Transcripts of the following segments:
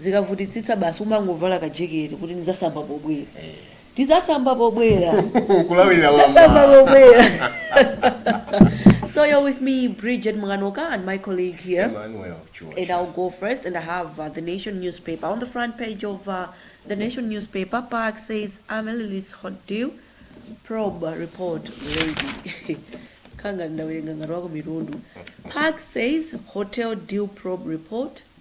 zikavutitsitsa basi umangovala ka jekete kuti ndizasamba pobwera ndizasamba pobwera kulawirira tizasamba pobwera so you're with me bridget mukanoka and my colleague here Emmanuel Chua. and I'll go first. And I have uh, the Nation newspaper on the front page of uh, the Nation newspaper. PAC says Amaryllis Hotel probe report ready. Kanga ndawerenga ngati wako mitundu. PAC says hotel deal probe report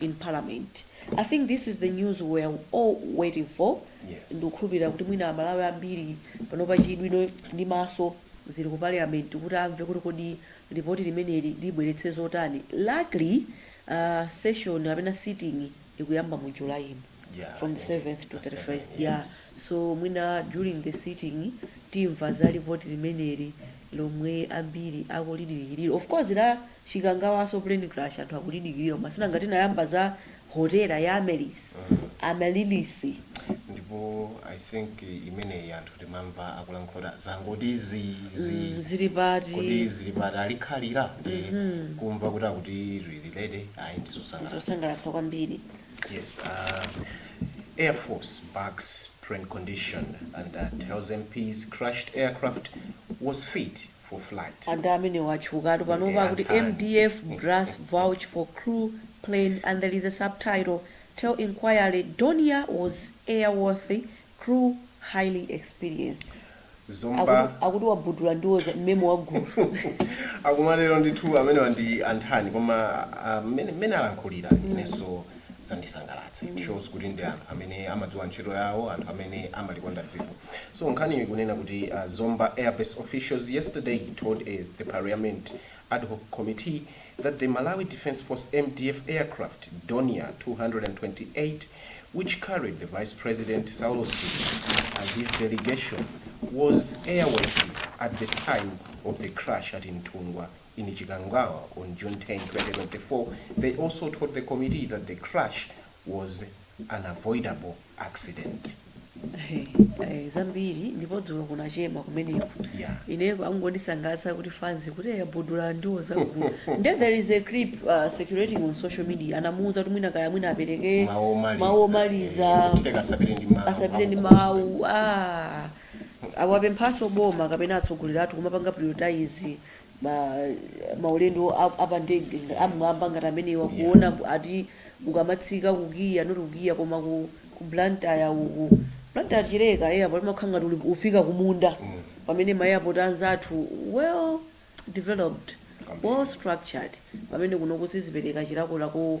in parliament. I think this is the news we were all waiting for. Yes. Ndikukhulupirira kuti mwina Amalawi ambiri panopa chidwi ndi maso zili ku parliament kuti amve kuti kodi ripoti limeneli libweretsa zotani. Luckily, uh, session kapena sitting ikuyamba mu July ino. Yeah, from the I think 7th to the 31st. 7th, Yeah. yes. So mwina during the sitting timva za ripoti limeneli lomwe ambiri akulidikirira. Of course la Chikangawaso plane crash anthu akulidikilira koma si nanga tinayamba za hotela ya Amaryllis, Amaryllis. Ndipo I think imeneyi anthu timamva akulankhula kuti zangoti zii zii Mm, zili pati? kodi zili pati alikhalira ndi kumva kuti akuti lili ready ayi ndizosangalatsa Zosangalatsa kwambiri. Yes, uh, Air Force backs plane condition and uh, tells MPs crashed aircraft was fit for flight. Anthu amenewa atchukatu panopa akuti mdf brass vouch for crew, plane and there is a subtitle tell inquiry Dornier was airworthy crew highly experienced. Zomba. Akuti akuti wabudula ndiwo za mmemo wagulu. akumatero ndithu amenewa ndi anthani koma ah, mmene mmene alankhulira inenso zandisangalatsa it shows kuti ndi anthu amene amadziwa ntchito yawo anthu amene amalikonda dziko so nkhaniyo ikunena kuti uh, zomba airbase officials yesterday told a, the parliament ad hoc committee that the malawi defence force mdf aircraft Dornier 228 which carried the vice president saulos Chilima and his delegation was airworthy at the time of the crash at Nthungwa in Chikangawa on June 10, 2024, they also told the committee that the crash was an unavoidable accident. Hey, hey, zambiri ndipo dzulo kunachema kumeneko Yeah. ine angondisangalatsa kuti fanzi kuti yabudula ndiwo zagulu nde there is a clip uh, circulating on social media anamuuza kuti mwina kaya mwina apereke Mawu omaliza. mawu omaliza Eh, kuti asapite ndi mawu asapite ndi aukhosi. mawu ah. awapemphanso boma kapena atsogoleri athu kumapanga prioritize ma maulendo a, a pa ndege nga- am'mwamba ngati amenewa Yeah. kuona ku- ati ukamatsika ku KIA not ku KIA koma ku, ku blantyre uku blantyre chileka airport umakhala ngati uli- ufika kumunda pamene ma airport anzathu well developed Kwambiri. well structured pamene kuno kusi- sizipereka chilakolako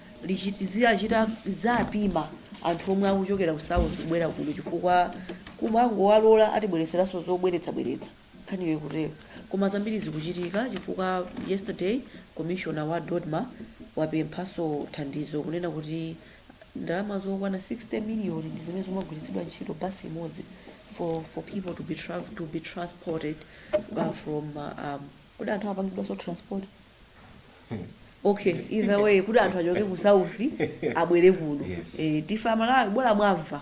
lizichita lidzapima anthu omwe akuchokera ku south kubwera kuno chifukwa kumangowalola atibweretseranso zobweretsa bweretsa nkhaniyo ikutero koma zambiri zikuchitika chifukwa yesterday commissioner wa dodma wapemphanso thandizo kunena kuti ndalama zokwana 60 million ndi zimene zimagwiritsidwa ntchito bus imodzi for for people to be tra to be transported uh, from uh, um, kodi anthu amapangidwanso transport ok either way kuti anthu achoke ku south abwere kuno Yes. Eh, tife amalawi bola mwamva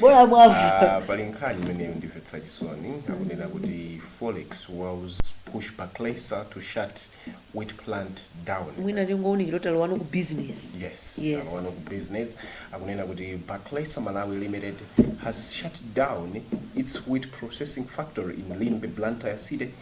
bola mwamva Ah, pali nkhani imene yandimvetsa chisoni akunena kuti forex woes push Bakhresa to shut wheat plant down mwina tingounikira kuti alowano ku business yes, Yes. alowano ku business akunena kuti Bakhresa malawi limited has shut down its wheat processing factory in limbe blantyre city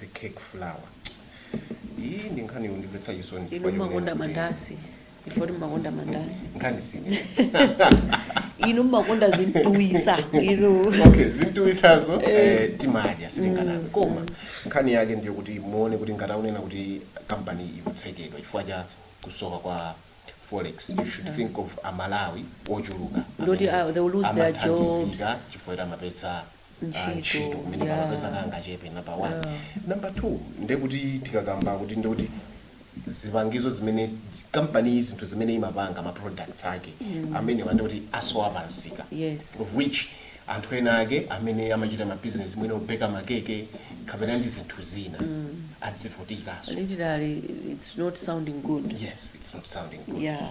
the cake flour iyi ndi nkhani yondimvetsa chisoni inu mmakonda mandasi I thought mmakonda mandasi nkhani si inu mmakonda zimtuwitsa inu okay zimtuwitsazo eh, timadya sitinganame Mm, koma mm. nkhani yake ndiyo kuti muone kuti ngati akunena kuti kampani ikutsekedwa chifukwa cha kusowa kwa forex you should think of amalawi ochuluka Ndoti, amene ah, they will lose their amathandizika jobs. chifukwa kuti amapeza ntchito ntchito kumene amakapeza kangachepe number one ah, number two ndekuti tikakamba kuti ndekuti zipangizo zimene dzi- kampani iyi zinthu zimene imapanga ma products ake amenewa ndekuti asowa pansika Yes. of which anthu ena ake amene amachita ma business mwina obeka makeke kapena ndi zinthu zina adzivutikaso literally it's not sounding good yes it's not sounding good yeah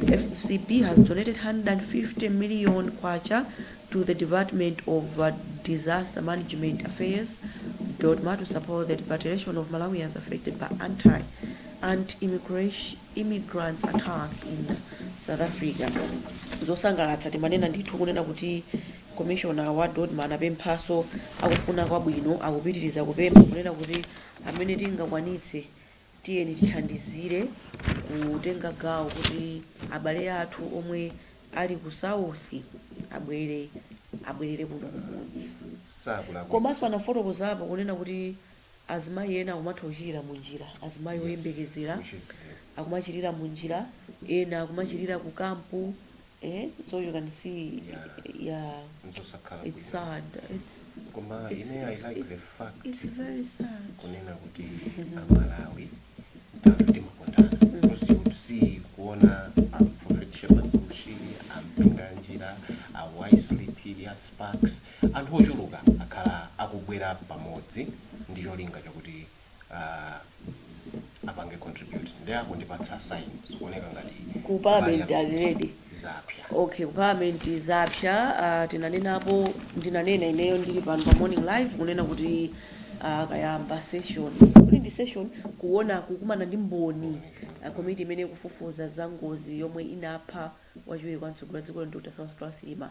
FCB has donated K150 million to the Department of Disaster Management Affairs, Dodma, to support the repatriation of Malawians affected by anti anti immigrants attack in South Africa. zosangalatsa timanena ndithu kunena kuti commissioner wa dodma anapemphaso akufuna kwabwino akupitiriza kupempha kunena kuti amene tingakwanitse Tiyeni tithandizire kutenga gawo kuti abale athu omwe ali ku South abwere abwerere kuno kumudzi. Komanso anafotokozapo kunena kuti azimayi ena akumatha kuchilira mu njira, azimayi oyembekezera akumachilira mu njira, ena akumachilira ku camp. eh so you can see Yeah. yeah nzosakhala it's bwino. sad it's koma it's- ine i it's- like the it's- fact it's very sad kunena kuti amalawi timakondana because you would see kuona aprofet shepherd bushiri ampinganjira awisely phiri a sparc anthu ochuluka akhala akubwera pamodzi ndi cholinga chakuti ah, apange contribute nde akundipatsa sign zikuoneka ngati Ku parliament already. zapya okay ku parliament zapya uh, tinanenapo ndinanena ineyo ndili pano pa morning live kunena kuti uh, kayamba session kuti ndi session kuona kukumana ndi mboni uh, komiti imene ikufufuza za ngozi yomwe inapha wachiwiri kwa mtsogoleri wa dziko lino dr saulos klaus chilima